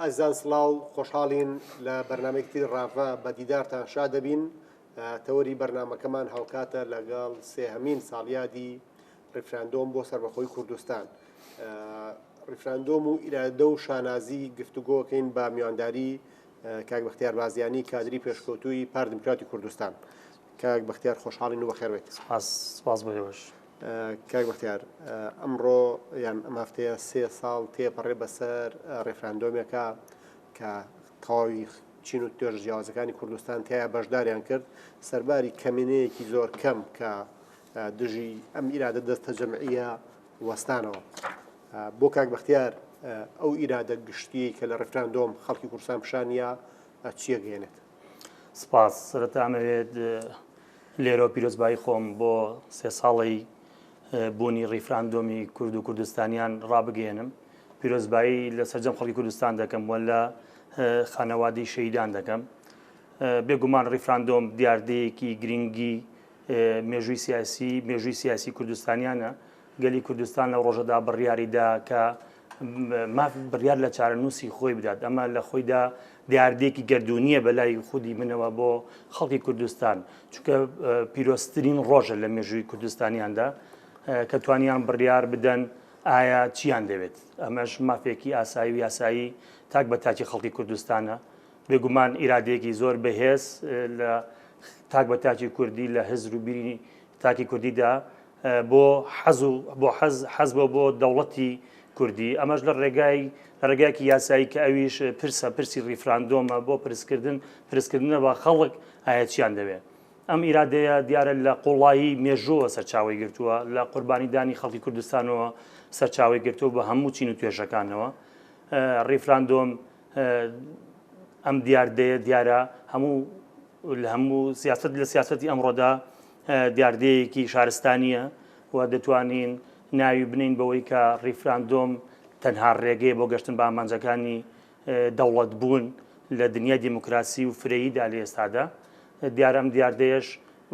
ئەزیزان سڵاو خۆشحاڵین لە بەرنامەیەکی تری ڕاڤە بە دیدارتان شاد ئەبین تەوەری بەرنامەکەمان هاوکاتە لەگەڵ سێهەمین ساڵیادی ڕیفراندۆم بۆ سەربەخۆی کوردستان ڕیفراندۆم و ئیرادە و شانازی گفتوگۆکەین بە میوانداری کاک بەختیار بازیانی کادری پێشکەوتووی پار دیموکراتی کوردستان کاک بەختیار خۆشحاڵین و بەخێر بێیت. سپاس سپاس بۆ ئێوەش. کاک بەختیار ئەمڕۆ یان ئەم هەفتەیە سێ ساڵ تێپەڕێ بەسەر ڕێفراندۆمێکە کە تەواوی چین و توێژ جیاوازەکانی کوردستان تیا بەشداریان کرد سەرباری کەمینەیەکی زۆر کەم کە دژی ئەم ئیرادە دەستە جەمعیە وەستانەوە بۆ کاک بەختیار ئەو ئیرادە گشتی کە لە ڕفراندۆم خەڵکی کورسان پیشانە چیە گەێنێت سپاس سەرەتا ئەمەوێت لێرەوە پیرۆزبایی خۆم بۆ سێ ساڵی بوونی ڕیفراندۆمی کورد و کوردستانیان ڕابگەێنم پیرۆزبایی لە سەرجەم خەڵکی کوردستان دەکەم وە لە خانەوادی شەیدان دەکەم بێگومان ڕیفراندۆم دیاردەیەکی گرنگی مێژووی سیاسی مێژووی سیاسی کوردستانیانە گەلی کوردستان لەو ڕۆژەدا بڕیاری دا کە ماف بڕیار لە چارەنووسی خۆی بدات ئەمە لە خۆیدا دیاردێکی گردردونیە بەلای خودی منەوە بۆ خەڵکی کوردستان چونکە پیرۆستترین ڕۆژە لە مێژووی کوردستانیاندا کە توانیان بڕیار بدەن ئایا چیان دەوێت ئەمەش مافێکی ئاسایی و یاسایی تاک بە تاکی خەڵکی کوردستانە بێگومان ئیرادێکی زۆر بەهێز لە تاک بە تاکی کوردی لە هزر و بیری تاکی کوردیدا بۆ حەز و بۆ حەز حەز بۆ بۆ دەوڵەتی کوردی ئەمەش لە ڕێگای لە ڕێگایکی یاسایی کە ئەویش پرسە پرسی ڕیفراندۆمە بۆ پرسکردن پرسکردنە بە خەڵک ئاەتیان دەوێت ئەم ئیرادەیە دیارە لە قوڵایی مێژووە سەرچاوی گرتووە لە قوربانیدانی خەڵکی کوردستانەوە سەرچاوی گرتووە بە هەموو چین و توێژەکانەوە ڕیفراندۆم ئەم دیاردەیە دیارە هەموو لە هەموو سیاست لە سیاستی ئەمڕۆدا دیاردەیەکی شارستانییە و دەتوانین ناوی بنێین بەوەی کە ڕیفراندۆم تەنها ڕێگەیە بۆ گەشتن بە ئامانجەکانی دەوڵەت بوون لە دنیای دیموکراسی و فرەییدا لە ئێستادا دیارە ئەم دیاردەیەش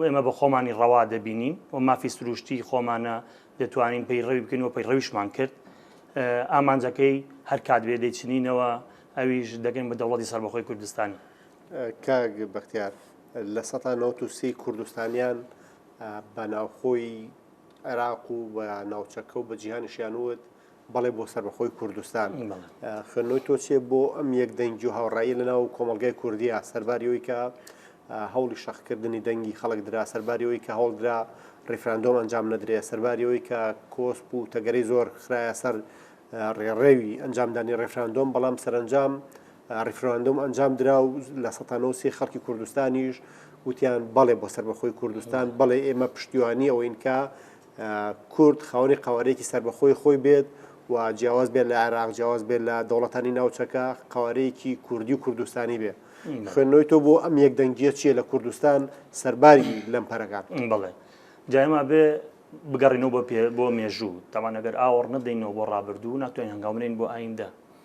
ئێمە بە خۆمانی ڕەوا دەبینین و مافی سروشتی خۆمانە دەتوانین پەیڕەوی بکەین و پەیڕەویشمان کرد ئامانجەکەی هەر کات بێ دەیچنینەوە ئەویش دەگەن بە دەوڵەتی سەربەخۆی کوردستانی کاک بەختیار لە سەدا نەوەد و سێی کوردستانیان بە ناوخۆی عێراق و بە ناوچەکە و بە جیهانیشیان وت بەڵێ بۆ سەربەخۆی کوردستان خوێنەوەی تۆ چێ بۆ ئەم یەک دەنگی و هاوڕایی لە ناو کۆمەلگای کوردیا سەرباریەوەی کە هەوڵی شەخکردنی دەنگی خەڵک درا سەرباریەوەی کە هەوڵدرا ڕیفراندۆم ئەنجام نەدرێ سەرباریەوەی کە کۆسپ و تەگەری زۆر خراە سەر ڕێڕێوی ئەنجامدانی ڕێفراندۆم بەڵام سەرنجام ڕیفراندۆم ئەنجام درا و لە سەتا نەوەد و سێ خەڵکی کوردستانیش وتیان بەڵێ بۆ سەربەخۆی کوردستان بەڵێ ئێمە پشتیوانی ئەوەین کە کورد خاوەنی قەوارەیەکی سەربەخۆی خۆی بێت و جیاواز بێت لە عێراق جیاواز بێت لە دەوڵەتانی ناوچەکە قەوارەیەکی کوردی و کوردستانی بێ خوێندنەوەی تۆ بۆ ئەم یەک دەنگیە چییە لە کوردستان سەرباری لەم پەرەکان بڵێ جایما بێ بگەڕینەوە بۆ پێ بۆ مێژوو تاوانەگەر ئاوەڕ نەدەینەوە بۆ ڕابردوو ناتوانین هەنگاومنین بۆ ئایندە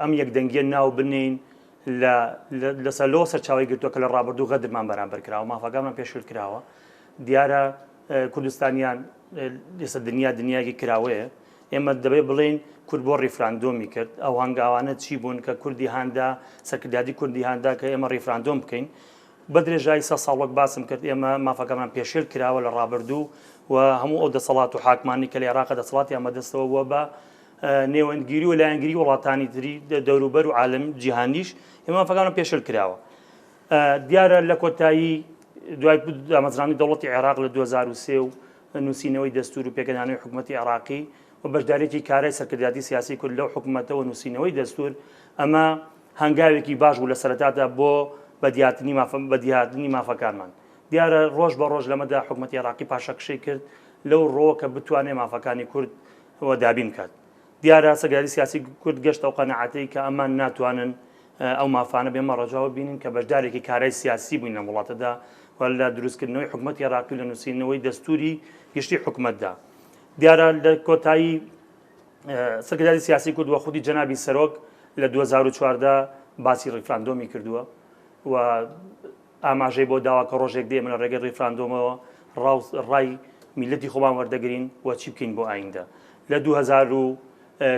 ئەم یەکدەنگیە ناو بنێین لەسەر لۆ سەرچاوی گرتووە کە لە ڕابردوو غەدرمان بەرامبەر کراوە مافەکانمان پێشل کراوە دیارە کوردستانیان لەسەر دنیا دنیاگی کراوەیە ئێمە دەبێ بڵین کورد بۆ ڕیفراندۆمی کرد ئەو هەنگاوانە چی بوون کە کوردی هاندا سەرکردادی کوردی هاندا کە ئێمە ڕیفراندۆم بکەین بە درێژای سە ساڵۆک باسم کرد ئێمە مافەکەمان پێشێل کراوە لە ڕابردوو و هەموو ئەو دەسەڵات و حاکمانی کە لە عێراق دەسەڵاتی ئەمە دەستەوە بووە بە نێوەندگیری و لایەنگری وڵاتانی تری دەوروبەر و عالم جیهانیش ئێمە مافەکانە پێشل کراوە دیارە لە کۆتایی دوای دامەزرانی دەوڵەتی عێراق لە 2023 و نووسینەوەی دەستور و پێکەدانەوەی حکوومەتتی عێراقی و بەشدارێکی کارای سەرکرداتی سیاسی کورد لەو حکوومەتەوە نووسینەوەی دەستور ئەمە هەنگاوێکی باش بوو لە سەرتادا بۆ بەدیاتنی بەدیهاتنی مافەکانمان دیارە ڕۆژ بە ڕۆژ لەمەدا حکوومەتتی عێراقی پاشەکشەی کرد لەو ڕۆوە کە بتوانێت مافەکانی کورد ەوە دابین بکات. دیارە چەکداری سیاسی کورد گەشتە ئەو قەناعەتەی کە ئەمان ناتوانن ئەو مافانە بێمە ڕەجاوە ببینن کە بەشدارێکی کارای سیاسی بووین لەم وڵاتەدا و لە دروستکردنەوەی حکومەتی عێراقی و لە نووسینەوەی دەستووری گشتی حکومەتدا. دیارە لە کۆتایی چەکداری سیاسی کورد و خودی جەنابی سەرۆک لە دوو هەزار و چواردە باسی ڕیفراندۆمی کردووە و ئاماژەی بەوە داوە کە ڕۆژێک دێ ئێمە لە ڕێگەی ڕیفراندۆمەوە ڕاوس ڕای میللەتی خۆمان وەردەگرین و چی بکەین بۆ ئاییندە. لە دوو هەزار و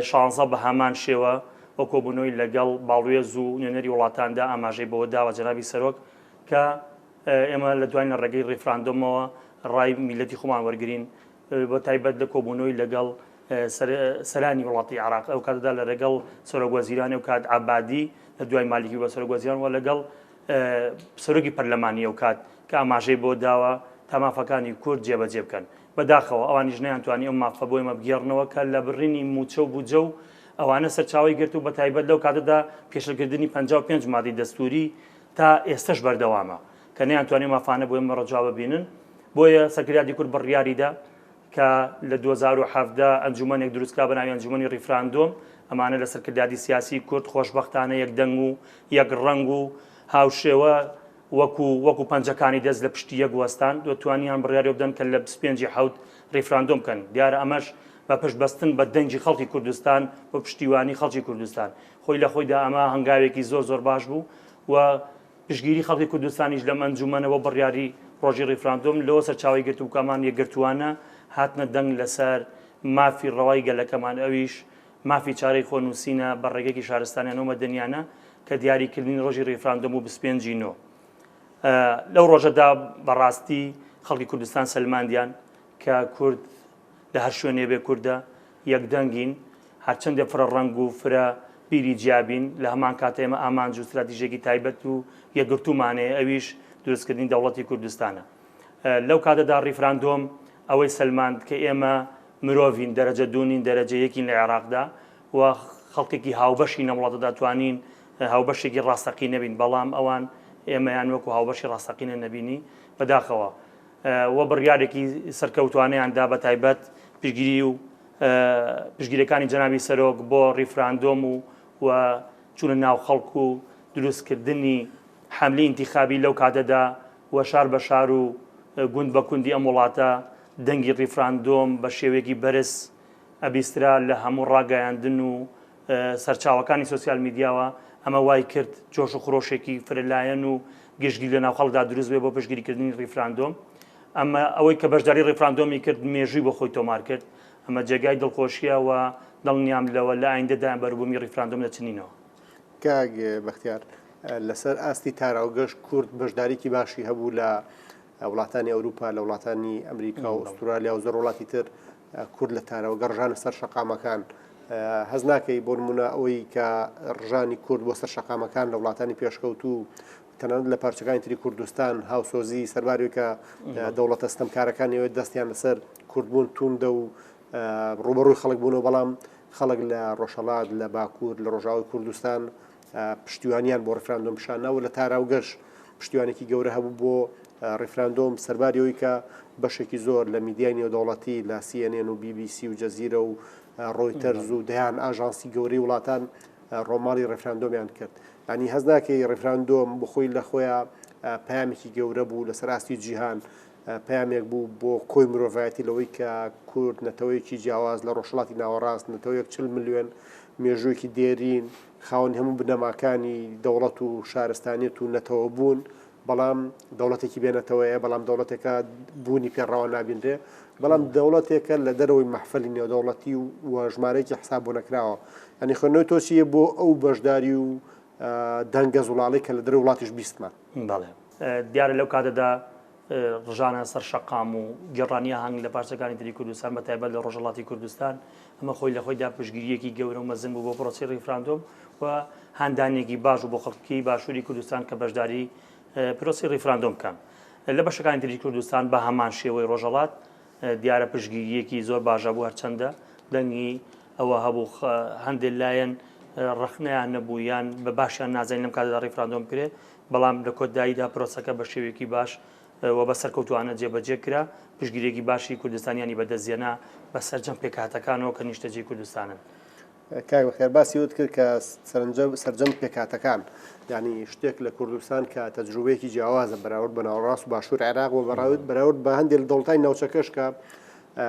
شانزە بە هەمان شێوە و کۆبوونەوەی لەگەڵ باڵوێز و نوێنەری وڵاتاندا ئاماژەی بەوە داوە جەنابی سەرۆک کە ئێمە لە دوواین لە ڕێگەی ڕیفراندۆمەوە ڕای میللەتی خۆمان وەرگرین بە تایبەت لە کۆبوونەوەی لەگەڵ سەرانی وڵاتی عێراق ئەو کاتەدا لە ڕێگەڵ سەرۆک وەزیران ئەو کات عەبادی لە دوای مالیکی بە سەرۆک وەزیران و لەگەڵ سەرۆکی پەرلەمانی ئەوکات کە ئاماژەی بۆ داوە تا مافەکانی کورد جێبەجێ بکەن. بەداخەوە ئەوانیش نەیانتوانی ئەو مافە بۆ ئێمە بگێڕنەوە کە لە بڕینی مووچە و بودجە و ئەوانە سەرچاوەی گرت و بەتایبەت لەو کاتەدا پێشێلکردنی پەنجا و پێنج مادەی دەستووری تا ئێستەش بەردەوامە کە نەیانتوانی ئەو مافانە بۆ ئێمە ڕەجا ببینن. بۆیە سەکرداتی کورد بڕیاریدا کە لە دوو هەزار و حەڤدە ئەنجومەنێک دروستکرا بە ناوی ئەنجومەنی ڕیفراندۆم، ئەمانە لە سەرکردایەتی سیاسی کورد خۆشبەختانە یەک دەنگ و یەک ڕەنگ و هاوشێوە وەکو وەکو پەنجەکانی دەست لە پشتی یەک وەستان و توانیان بڕیاری ئەوە بدەن کە لە بیست و پێنج ی حەوت ڕیفراندۆم بکەن. دیارە ئەمەش بە پشت بەستن بە دەنگی خەڵکی کوردستان و پشتیوانی خەڵکی کوردستان. خۆی لە خۆیدا ئەمە هەنگاوێکی زۆر زۆر باش بوو و پشتگیری خەڵکی کوردستانیش لەم ئەنجوومەنە بۆ بڕیاری ڕۆژی ڕیفراندۆم لەوە سەرچاوەی گرتبوو کە ئەمان یەکگرتووانە هاتنە دەنگ لەسەر مافی ڕەوای گەلەکەمان ئەویش مافی چارەی خۆنووسینە بە ڕێگەێکی شارستانیانە و مەدەنیانە کە دیاریکردنی ڕۆژی ڕیفراندۆم و بیست و پێنج ی نۆ لەو ڕۆژەدا بەڕاستی خەڵکی کوردستان سەلماندیان کە کورد لە هەر شوێنێ بێ کوردە یەک دەنگین، هەرچەندە فرە ڕەنگ و فرە بیری جیا بین، لە هەمان کات ئێمە ئامانج و ستراتیژێکی تایبەت و یەکگرتوومان هەیە ئەویش دروستکردنی دەوڵەتی کوردستانە. لەو کاتەدا ڕیفراندۆم ئەوەی سەلماند کە ئێمە مرۆڤین، دەرەجە دوو نین، دەرەجە یەکین لە عێراقدا و خەڵکێکی هاوبەشین لەم وڵاتەدا توانین هاوبەشێکی ڕاستەقینە بین، بەڵام ئەوان ئێمەیان وەکو هاوبەشی ڕاستەقینە نەبینی، بەداخەوە و بڕیارێکی سەرکەوتوانەیان دا بەتایبەت پشتگیری و پشتگیرەکانی جەنابی سەرۆک بۆ ڕیفراندۆم و و چونە ناو خەڵک و دروستکردنی حەملی ئینتیخابی لەو کاتەدا و شار بە شار و گوند بە کوندی ئەم وڵاتە دەنگی ڕیفراندۆم بە شێوەیەکی بەرز ئەبیسترا لە هەموو ڕاگەیاندن و سەرچاوەکانی سۆسیال میدیاوە، ئەمە وای کرد جۆش و خرۆشێکی فرە لایەن و گشتگیر لەناو خەڵکدا دروست بێت بۆ پشتگیریکردنی ڕیفراندۆم. ئەمە ئەوەی کە بەشداری ڕیفراندۆمی کرد مێژووی بۆ خۆی تۆمار کرد. ئەمە جێگای دڵخۆشییە و دڵنیام لەوە لە ئایندەدا بەروبوومی ڕیفراندۆم دەچنینەوە. کاک بەختیار، لەسەر ئاستی تاراوگەش کورد بەشداریی باشی هەبوو لە وڵاتانی ئەوروپا، لە وڵاتانی ئەمریکا و ئوسترالیا و زۆر وڵاتی تر کورد لە تارەوەگە ڕژانە سەر شەقامەکان هەز ناکەی بۆ نمونە ئەوەی کە ڕژانی کورد بۆ سەر شەقامەکان لە وڵاتانی پێشکەوتوو تەنانەت لە پارچەکانی تری کوردستان هاوسۆزی سەربارێکە دەوڵەتە ستەمکارەکانیەوە دەستیان لەسەر کوردبوون توندە و ڕوبەڕووی خەڵک بوونەوە بەڵام خەڵک لە ڕۆژهڵات لە باکوور لە ڕۆژاوی کوردستان پشتیوانیان بۆ ڕیفراندۆم پیشان نا و لە تاراوگەش پشتیوانێکی گەورە هەبوو بۆ ڕیفراندۆم سەرباری ئەوی کە بەشێکی زۆر لە میدیای نێودەوڵەتی لە سیێنێن و بیبیسی و جەزیرە و ڕۆیتەرز و دەیان ئاژانسی گەورەی وڵاتان ڕۆماڵی ڕێفراندۆمیان کرد ئەنی هەز ناکەی ڕێفراندۆم بخۆی لە خۆیان پامێکی گەورە بوو لەسەر ئاستی جیهان پەیامێک بوو بۆ کۆی مرۆڤایەتی لەوەی کە کورد نەتەوەیەکی جیاواز لە ڕۆژهەڵاتی ناوەڕاست، نەتەوەیەک چل ملیۆن مێژووێکی دێرین، خاوەنی هەموو بنەماکانی دەوڵەت و شارستانیەت و نەتەوە بوون، بەڵام دەوڵەتێکی بێ نەتەوەیە، بەڵام دەوڵەتێکە بوونی پێ ڕەوا نابینرێ، بەڵام دەوڵەتێکە لە دەرەوەی مەحفەلی نێودەوڵەتی و ژمارەیەکی حساب بۆ نەکراوە. یانی خوێندنەوەی تۆ چی یە بۆ ئەو بەشداری و دەنگە زوڵاڵەی کە لە دەرەوەی وڵاتیش بیستمان؟ بەڵێ. دیارە لەو کاتەدا ڕژانە سەر شەقام و گێڕانیە هەنگ لە پارچەکانی تری کوردستان بە تایبەت لە ڕۆژەڵاتی کوردستان ئەمە خۆی لە خۆیدا پشگیریەکی گەورە و مەزن بوو بۆ پرۆسی ڕیفراندۆم و هاندانێکی باش و بۆ خەڵکی باشووری کوردستان کە بەشداری پرۆسی ڕیفراندۆم بکەن لە بەشەکانی تری کوردستان بە هەمان شێوەی ڕۆژەڵات دیارە پشگیریەکی زۆر باشە بوو هەرچەندە دەنگی ئەوە هەبوو هەندێک لایەن ڕخنیان نەبوو یان بە باشیان نازانین لەم کاتدا ڕیفراندۆم کرێ بەڵام لە کۆتداییدا پرۆسەکە بە شێوەیەکی باش و بە سەرکەوتووانە جێبەجێ کرا، پشتگیرییەکی باشی کوردستانیانی بەدەستهێنا بە سەرجەم پێکهاتەکانەوە کە نیشتەجێی کوردستانن. کاک بەختیار باسی ئەوەت کرد کە سەرجەم پێکهاتەکان، یانی شتێک لە کوردستان کە تەجروبەیەکی جیاوازە بەراورد بە ناوەڕاست و باشووری عێراق و بەراورد بە هەندێک لە دەوڵەتانی ناوچەکەش کە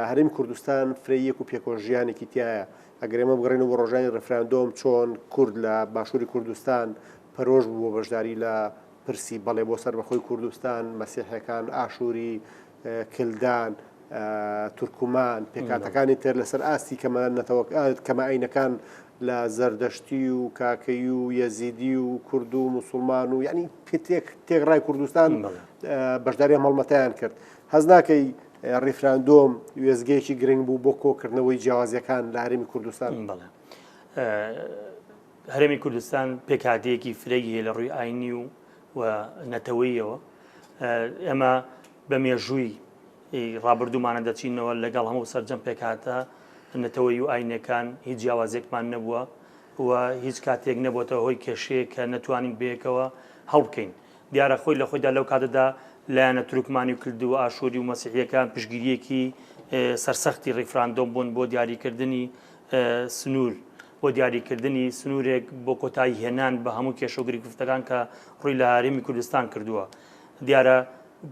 هەرێمی کوردستان فرەییەک و پێکەوەژیانێکی تیایە، ئەگەر ئێمە بگەڕێینەوە بۆ ڕۆژانی ڕیفراندۆم چۆن کورد لە باشووری کوردستان پەرۆش بوو بۆ بەشداری لە پرسی بەڵێ بۆ سەربەخۆی کوردستان، مەسیحەکان، ئاشووری، کلدان، تورکمان، پێکهاتەکانی تر لەسەر ئاستی کەمە نەتەوەکە کەمە ئاینەکان لە زەردەشتی و کاکەی و یەزیدی و کورد و مسلمان و یعنی پێتێک تێکڕای کوردستان بەشداری هەڵمەتیان کرد هەز ناکەی ڕیفراندۆم وێستگەیەکی گرنگ بوو بۆ کۆکردنەوەی جیاوازیەکان لە هەرێمی کوردستان بڵێ هەرێمی کوردستان پێکاتەیەکی فرەی هەیە لە ڕووی ئاینی و و نەتەوەیەوە ئێمە بە مێژووی ڕابردوومانە دەچینەوە لەگەڵ هەموو سەررجەم پێکاتە نەتەوەی و ئاینەکان هیچ جیاوازێکمان نەبووە و هیچ کاتێک نەبووەوە هۆی کێشەیە کە نەتوانین بێکەوە هەڵبکەین دیارە خۆی لە خۆیدا لەو کاتەدا لایەنە تورکمانی و کلد و ئاشووری و مەسیحیەکان پشگیریەکی سەرسەختی ڕیفراندۆم بوون بۆ دیاریکردنی سنوور بۆ دیاریکردنی سنوورێک بۆ کۆتایی هێنان بە هەموو کێشە گرگفتەکان کە ڕووی لە هاریمی کوردستان کردووە دیارە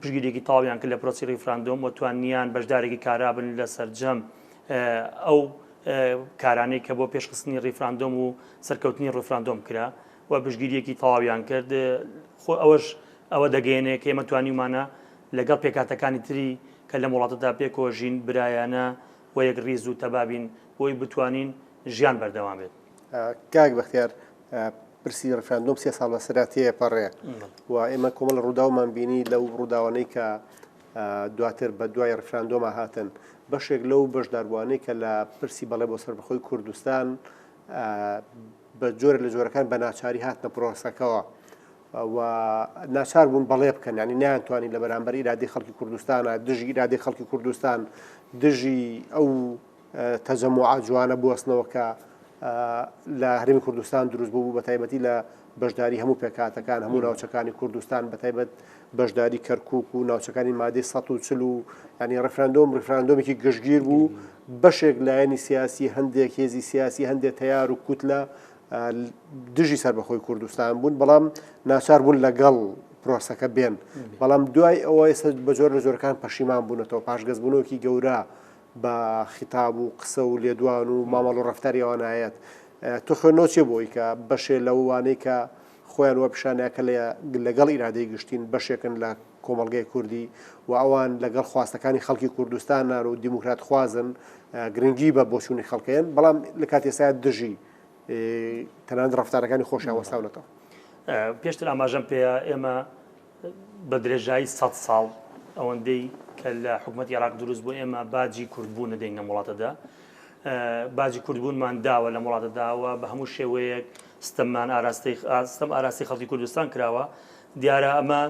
پشگیرێکی تاویان کرد لە پرۆسی ڕیفراندۆم و توانیان بەشدارێکی کارابن لە سەررجەم ئەو کارانەی کە بۆ پێشخستنی ڕیفراندۆم و سەرکەوتنی ڕفراندۆم کرا و پشتگیرییەکی تەواویان کرد، خۆ ئەوەش ئەوە دەگەیەنێ کە ئێمە توانیومانە لەگەڵ پێکهاتەکانی تری کە لەم وڵاتەدا پێکەوە ژین، برایانە و یەکڕیز و تەبا بین بۆی بتوانین ژیان بەردەوام بێت. کاک بەختیار، پرسی ڕیفراندۆم سێ ساڵ بەسەرا تێپەڕێ و ئێمە کۆمەڵە ڕووداومان بینی، لەو ڕووداوانەی کە دواتر بە دوای ڕیفراندۆما هاتن، بەشێک لەو بەشداربووانەی کە لە پرسی بەڵێ بۆ سەربەخۆی کوردستان، بە جۆرە لە جۆرەکان بە ناچاری هاتنە پرۆسەکەەوە و ناچار بوون بەڵێ بکەن ینی نیانتوانی لە بەرامبەر ئیرادی خەڵکی کوردستانە دژی ئیرادی خەڵکی کوردستان دژی ئەو تەجەم و ئاجوانە بستنەوە کە لە هەرمی کوردستان دروست بوو بە تایبەتی لە بەشداری هەموو پێکاتەکان هەموو ناوچەکانی کوردستان بە تایبەت بەشداری کەرکوک و ناوچەکانی مادەی سەد و چل و ینی ڕفراندۆم ڕفراندۆمێکی گشتگیر بوو بەشێک لایەنی سیاسی هەندێک هێزی سیاسی هەندێک تەیار و کوتلە دژی سەر بەخۆی کوردستان بوون بەڵام ناچار بوون لەگەڵ پرۆسەکە بێن بەڵام دوای ئەوە ئێستا بەجۆر لە جۆرەکان پەشیمان بوونەتەوە پاشگەزبوونەوەکی گەورە بە خیتاب و قسە و لێدوان و مامەڵ و ڕفتاری ئەوانایەت تۆ خوێنەوە چێ بۆی کە بەشێ لەوانەی کە خۆیان وە پیشاندا کە لەگەڵ ئیرادەی گشتین، بەشێکن لە کۆمەڵگەی کوردی و ئەوان لەگەڵ خواستەکانی خەڵکی کوردستانن و دیموکراتخوازن، گرنگی بە بۆچوونی خەڵکەیەن، بەڵام لە کاتی ئێستادا دژی تەنانەت ڕەفتارەکانی خۆشیان وەستاونەتەوە. پێشتر ئاماژەم پێیە ئێمە بە درێژایی سەد ساڵ ئەوەندەی کە لە حکومەتی عێراق دروست بوو ئێمە باجی کوردبوو نەدەین لە وڵاتەدا باجی کوردبوونمان داوە لە وڵاتە داوە بە هەموو شێوەیەک ستەممان ئاراستەی ئاستەم ئاراستی خەڵکی کوردستان کراوە دیارە ئەمە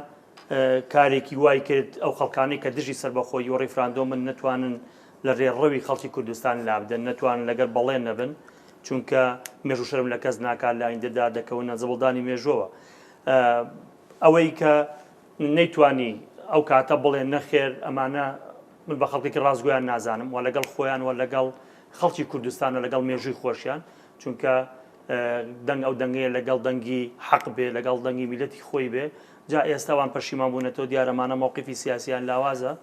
کارێکی وای کرد ئەو خەڵکانی کە دژی سربەخۆی و ڕیفراندۆ من نتوانن لە ڕێڕەوی خەڵکی کوردستان لابدەن نەتوان لەگەر بەڵێ نەبن چونکە مێژوو شەرم لە کەس ناکات لە ئایندەدا دەکەونە زبڵدانی مێژوەوە ئەوەی کە نەیتوانی ئەو کاتە بڵێ نەخێر ئەمانە من بە خەڵکێکی ڕاستگویان نازانم و لەگەڵ خۆیان و لەگەڵ خەڵکی کوردستان و لەگەڵ مێژووی خۆشیان چونکە دەنگ ئەو دەنگەیە لەگەڵ دەنگی حەق بێ لەگەڵ دەنگی میلەتی خۆی بێ جا ئێستاوان پەشیمان بوونەتەوە دیارەمانە مووقفی سیاسیان لاوازە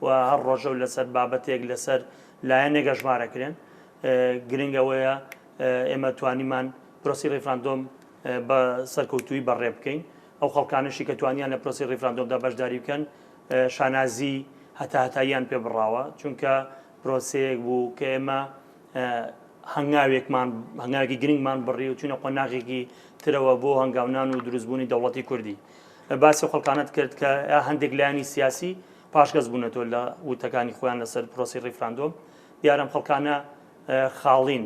و هەر ڕۆژە و لەسەر بابەتێک لەسەر لایەنێک گەژمارەکرێن گرنگەوەیە ئێمە توانیمان پرۆسی ڕیفراندۆم بە سەرکەوتوویی بەڕێ بکەین. ئەو خەڵکانەشی کە توانیان لە پرۆسەی ڕیفراندۆمدا بەشداری بکەن، شانازیی هەتاهەتاییان پێ بڕاوە، چونکە پرۆسەیەک بوو کە ئێمە هەنگاوێکمان، هەنگاوێکی گرنگمان بڕی و چووینە قۆناغێکی ترەوە بۆ هەنگاونان و دروستبوونی دەوڵەتی کوردی. باسی ئەو خەڵکانەت کرد کە هەندێک لایەنی سیاسی پاشگەز بوونەتەوە لە وتەکانی خۆیان لەسەر پرۆسەی ڕیفراندۆم. دیارە ئەم خەڵکانە خاڵین.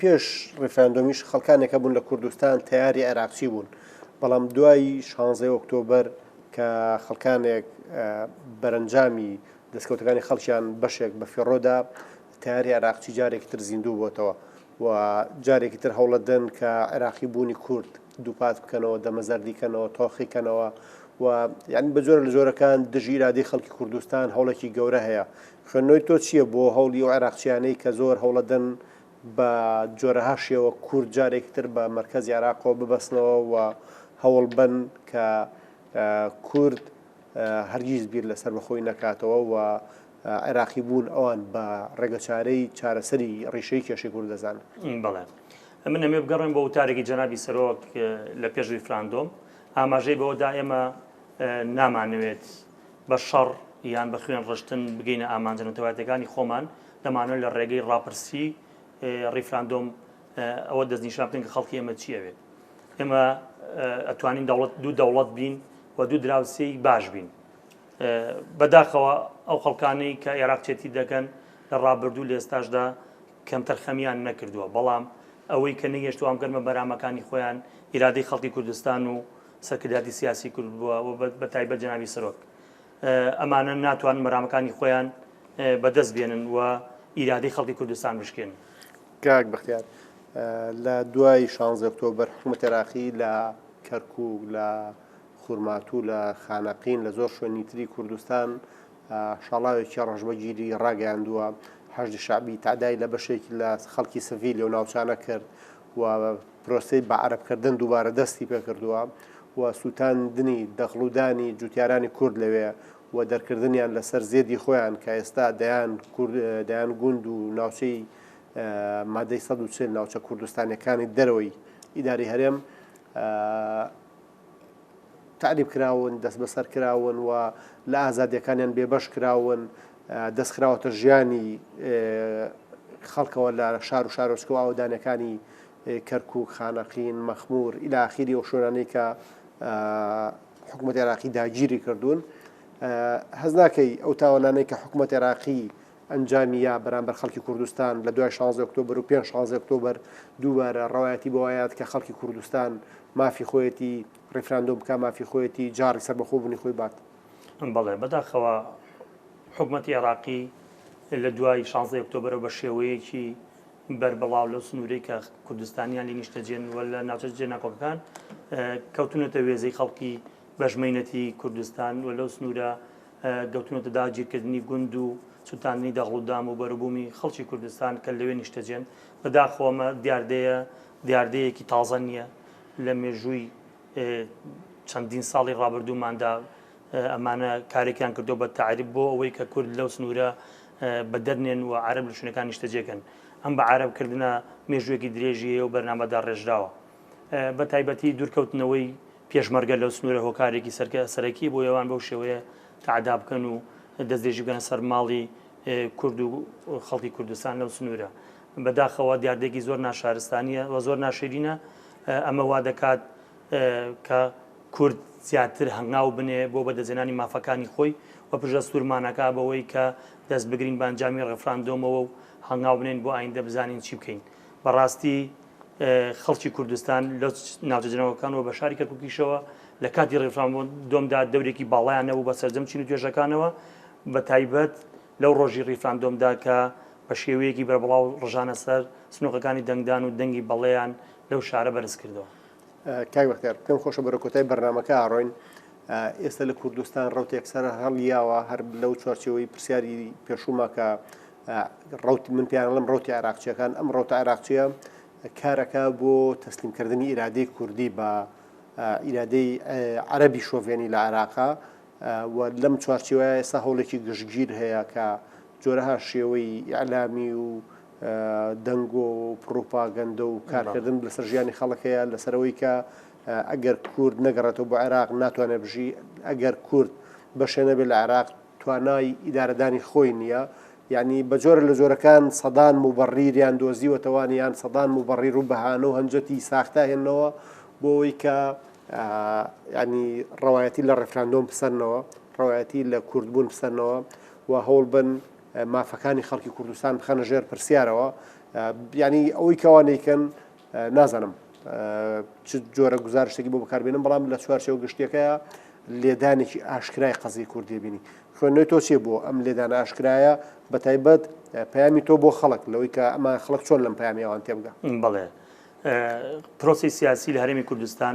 پێش ڕیفراندۆمیش خەڵکانێک هەبوون لە کوردستان تەیاری عێراقچی بوون بەڵام دوای شانزەی ئۆکتۆبەر کە خەڵکانێک بەرەنجامی دەستکەوتەکانی خەڵکیان بەشێک بە فێڕۆدا تاری عراقچی جارێکی تر زیندوو بۆتەوە و جارێکی تر هەوڵەدەن کە عێراقی بوونی کورد دووپات بکەنەوە دەمەزەردیکەنەوە تۆخیکەنەوە و یعنی بە جۆرە لە جۆرەکان دژی ئرادی خەڵکی کوردستان هەوڵێکی گەورە هەیە خوێندنەوەی تۆ چییە بۆ هەوڵی و عێراقچیانەی کە زۆر هەوڵەدەن بە جۆرەها شێوە کورد جارێکی تر بە مەرکەزی عێراقەوە ببەستنەوە و هەوڵبەن کە کورد هەرگیز بیر لە سەربەخۆیی نەکاتەوە و عێراقیبوون ئەوان بە ڕێگەچارەی چارەسەری ڕیشەی کێشەی کورد دەزانن. بەڵێ. من ئەمێ بگەڕێم بۆ وتارێکی جەنابی سەرۆک لە پێش ڕیفراندۆم، ئاماژەی بەوە دا ئێمە نامانەوێت بە شەڕ یان بە خوێن ڕشتن بگەینە ئامانجە نەتەوایەتەکانی خۆمان، دەمانەوێت لە ڕێگەی ڕاپرسی ڕیفراندۆم ئەوە دەستنیشان بکەین کە خەڵکی ئێمە چی ئەوێت. ئێمە ئەتوانین دەوڵەت دوو دەوڵەت بین و دوو دراوسێی باش بین. بەداخەوە ئەو خەڵکانەی کە عێراق چێتی دەکەن لە ڕابردوو لە ئێستاشدا کەمتەر خەمیان نەکردووە بەڵام ئەوەی کە نەیهێشتوان گەرمە بەرامەکانی خۆیان ئیرادەی خەڵکی کوردستان و سەرکردایەتی سیاسی کورد بووە و بە تایبەت جەنابی سەرۆک ئەمانە ناتوان مەرامەکانی خۆیان بەدەست بێنن و ئیرادەی خەڵکی کوردستان بشکێن. کاک بەختیار لە دوای شانزەی ئۆکتۆبەر حکومەتی عێراقی لە کەرکوک، لە خورماتوو، لە خانەقین، لە زۆر شوێنی تری کوردستان شاڵاوێکی ڕەشبەگیری ڕاگەیاندووە، حەشدی شەعبی تەعدای لە بەشێکی لە خەڵکی سڤیلی ئەو ناوچانە کرد و پرۆسەی بە عەرەب کردن دووبارە دەستی پێ کردووە و سووتاندنی دەخڵ و دانی جووتیارانی کورد لەوێ و دەرکردنیان لە سەر زێدی خۆیان کە ئێستا دەیان کورد دەیان گووند و ناوچەی مادەی سەد و چل ناوچە کوردستانیەکانی دەرەوەی ئیداری هەرێم تعریب کراون دەست بەسەر کراون و لە ئازادیەکانیان بێبەش کراون دەست خراوەتە ژیانی خەڵکەوە لە شار و شارۆچکە و ئاوەدانەکانی کەرکوک، خانەقین، مەخمور الی اخیری ئەو شوێنانەی کە حکومەتی عێراقی داگیری کردوون. هەست ناکەی ئەو تاوانانەی کە حکومەت عێراقی ئەنجامی یا بەرامبەر خەڵکی کوردستان لە دوای 16 ئۆکتۆبر و پێنج 16 ئۆکتۆبر دووبارە ڕەوایەتی بۆوایەت کە خەڵکی کوردستان مافی خۆیەتی ڕیفراندۆم بکە مافی خۆیەتی جاڕی سەربەخۆبوونی خۆی بات. بەڵێ بەداخەوە حکومەتی عێراقی لە دوای شانزەی ئۆکتۆبرەوە بە شێوەیەکی بەربڵاو لەو سنوورەی کە کوردستانیان لە نیشتەجێن وە لە ناوچە جێناکۆکەکان کەوتونەتە وێزەی خەڵکی بەژمەینەتی کوردستان و لەو سنوورە گەوتونەتە داگیرکردنی گوند و سووتاندنی دەغڵودام و بەروبوومی خەڵکی کوردستان کە لەوێ نیشتەجێن بەداخۆمە دیاردەیە دیاردەیەکی تازە نییە لە مێژووی چەندین ساڵی ڕابردووماندا ئەمانە کارێکیان کردو بە تعریب بۆ ئەوەی کە کورد لەو سنوورە بە دەرنێن و عرب لە شوێنەکان نیشتەجێکن ئەم بە عربکردە مێژوێکی درێژیە و بەرنمەدا ڕێژراوە بە تایبەتی دوورکەوتنەوەی پێشمەرگە لەو سنوورە هۆکارێکی سەرکە سەرەکی بۆ ئەوان بەو شێوەیە تعدا بکەن و دەستێژی بگەنە سەر ماڵی کورد و خەڵکی کوردستان لەو سنوورە بەداخەوە دیاردێکی زۆر ناشارستانیە و زۆر ناشرینە ئەمە وا دەکات کە کورد زیاتر هەنگاو بنێ بۆ بەدەستهێنانی مافەکانی خۆی و پرژە سوورمان ئەکا بەوەی کە دەست بگرین بە ئەنجامی ڕێفراندۆمەوە و هەنگاو بنێین بۆ ئایندە بزانین چی بکەین. بەڕاستی خەڵکی کوردستان لە ناوچە جنەوەکان و بە شاری کەرکوکیشەوە لە کاتی ڕیفراندۆمدا دەورێکی باڵایان نەبوو بە سەرجەم چین و توێژەکانەوە بە تایبەت لەو ڕۆژی ڕیفراندۆمدا کە بە شێوەیەکی بەربڵاو ڕژانە سەر سنووقەکانی دەنگدان و دەنگی بەڵێیان لەو شارە بەرز کردەوە. کاک بەختیار، پێم خۆشە بەرەو کۆتای بەرنامەکە ڕۆین. ئێستا لە کوردستان ڕەوتێک سەرهەڵیاوە، هەر لەو چوارچێوەی پرسیاری پێشووما کە ڕەوت، من پێیان ئەڵێم ڕەوتی عێراقچییەکان، ئەم ڕەوتە عێراقچییە کار ئەکا بۆ تەسلیمکردنی ئیرادەی کوردی بە ئیرادەی عەرەبی شۆڤێنی لە عێراق، و لەم چوارچێوەیە ئێستا هەوڵێکی گشتگیر هەیە کە جۆرەها شێوەی ئیعلامی و دەنگۆ و پڕوپاگەندە و کارکردن لەسەر ژیانی خەڵک هەیە لەسەرەوەی کە ئەگەر کورد نەگەڕێتەوە بۆ عێراق ناتوانێت بژی ئەگەر کورد بەشێ نەبێت لە عێراق توانای ئیدارەدانی خۆی نییە یعنی بە جۆرە لە جۆرەکان سەدان موبڕیریان دۆزیوەتەوانیان سەدان موبڕیر و بەهانە و هەنجەتی ساختاهێنەوە بۆ ئەوەی کە یانی ڕەوایەتی لە ڕێفراندۆم بسەنەوە، ڕەوایەتی لە کوردبوون بسەنەوە و هەوڵ بن مافەکانی خەڵکی کوردستان بخەنە ژێر پرسیارەوە. یانی ئەوەی کەوا نیکەن نازانم چ جۆرە گزارشتێکی بۆ بەکاربێنم بەڵام لە چوارچەوە گشتیەکەیە لێدانێکی ئاشکرای قەزی کوردی بینی خوێنەوەی تۆ چێ بۆ ئەم لێدان ئاشکرایە بە تایبەت پامی تۆ بۆ خەڵک لەوەی کە ئەمە خەڵک چۆن لەم پامیوان تێبگە بڵێ پرۆسی سیاسی لە هەرێمی کوردستان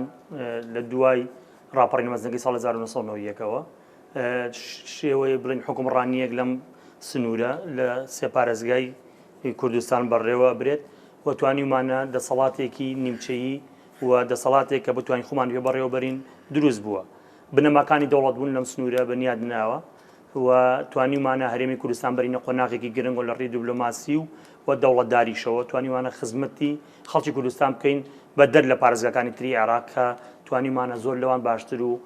لە دوای ڕاپەڕین مەزنەکەی ساڵ 1990ەوە شێوەیە بڵین حکومڕانیەک لەم سنوورە لە سێپارێزگای کوردستان بەڕێوە برێت و توانیمانە دەسەڵاتێکی نیمچەیی و دەسەڵاتێک کە بتوانین خۆمان پێ بەڕێوەبەرین دروست بووە بنەماکانی دەوڵەت بوون لەم سنوورە بەنیاد ناوە و توانیومانە هەرێمی کوردستان بەرینە قۆناغێکی گرنگ و لە ڕێی دیبلۆماسی و و دەوڵەتداریشەوە توانیوانە خزمەتی خەڵکی کوردستان بکەین بە دەر لە پارێزگاکانی تری عێراق کە توانیومانە زۆر لەوان باشتر و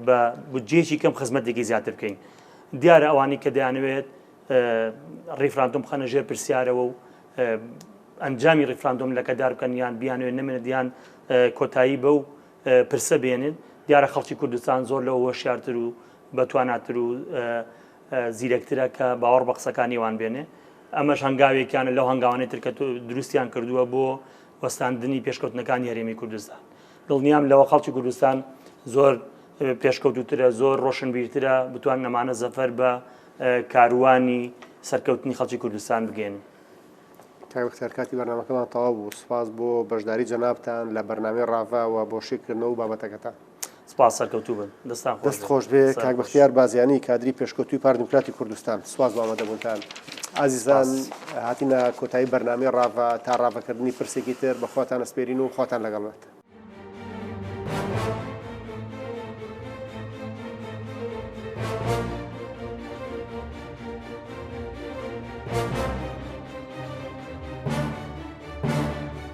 بە بودجەیەکی کەم خزمەتێکی زیاتر بکەین دیارە ئەوانەی کە دەیانەوێت ڕیفراندۆم بخەنە ژێر پرسیارەوە و ئەنجامی ڕیفراندۆم لەکەدار بکەن یان بیانوێت نمێنە دیان کۆتایی بە و پرسە بێنن دیارە خەڵکی کوردستان زۆر لەوە هۆشیارتر و بەتواناتر و زیرەکترە کە باوەڕ بە قسەکانی ئەوان بێنێ. ئەمەش هەنگاوێکیانە لەو هەنگاوانەی تر کە دروستیان کردووە بۆ وەستاندنی پێشکەوتنەکانی هەرێمی کوردستان. دڵنیام لەوە خەڵکی کوردستان زۆر پێشکەوتووترە، زۆر ڕۆشنبیرترە، بتوانن ئەمانە زەفەر بە کاروانی سەرکەوتنی خەڵکی کوردستان بگەیەنن. کاک بەختیار کاتی بەرنامەکەمان تەواو بوو، سوپاس بۆ بەشداری جەنابتان لە بەرنامەی ڕاڤە و بۆ شیکردنەوە و بابەتەکەتان. سپاس سەرکەوتوو بن دەستان خۆش دەست خۆش بێ کاک بەختیار بازیانی کادری پێشکەوتوی پار دیموکراتی کوردستان سواز بە ئامادەبوونتان ئازیزان هاتینە کۆتایی بەرنامی ڕاڤە تا ڕاڤەکردنی پرسێکی تر بە خۆتان ئەسپێرین و خۆتان لەگەڵ بێت